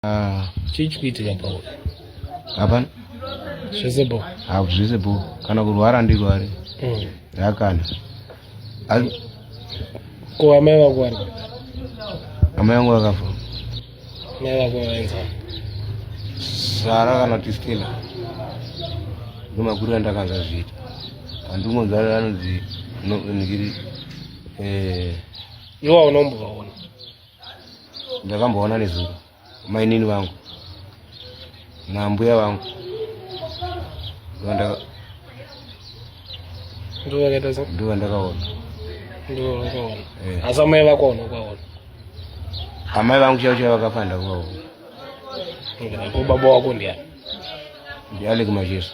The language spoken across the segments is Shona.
Ah, chii chikuitika bho hapana zvese bho haku zvese bho kana kurwara ndirware mm. yakana ko amai vako vari amai vangu vakafa mai vako vaenza sara kana kuti stela ndomakuru andakanza zviita andingonzara anonzi ndikiri eh, iwa unombovaona ndakamboona nezuro mainini vangu nambuya vangu ndivo ndakaona asi amai vakaona kwaona amai vangu chavo chavo vakafanda kwaona ko baba wako ndiani ndialeki macheso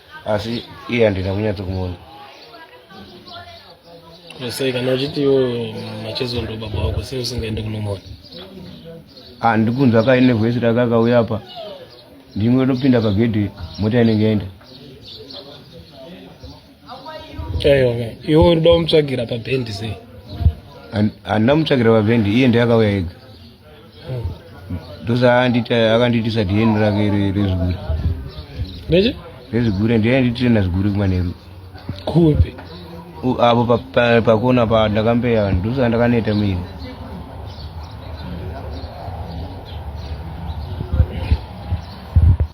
asi iye handina kunyatso kumuona sei kana uchiti iwo machezo ndo baba wako sei usingaende kunomona handi kunzwa kaine vhesi rakakauya apa ndimwe ndopinda pagedhi mota inenge yaenda aiwa iwe unoda kumutsvagira pabhendi sei handina mutsvagira pabhendi iye ndeyakauya ega ndosanditi akandiitisa dn rake rezigure nechi rezigure ndiye andiitire nazigure kumanheru kupi apo pakona pa ndakambeya ndosa ndakaneta miri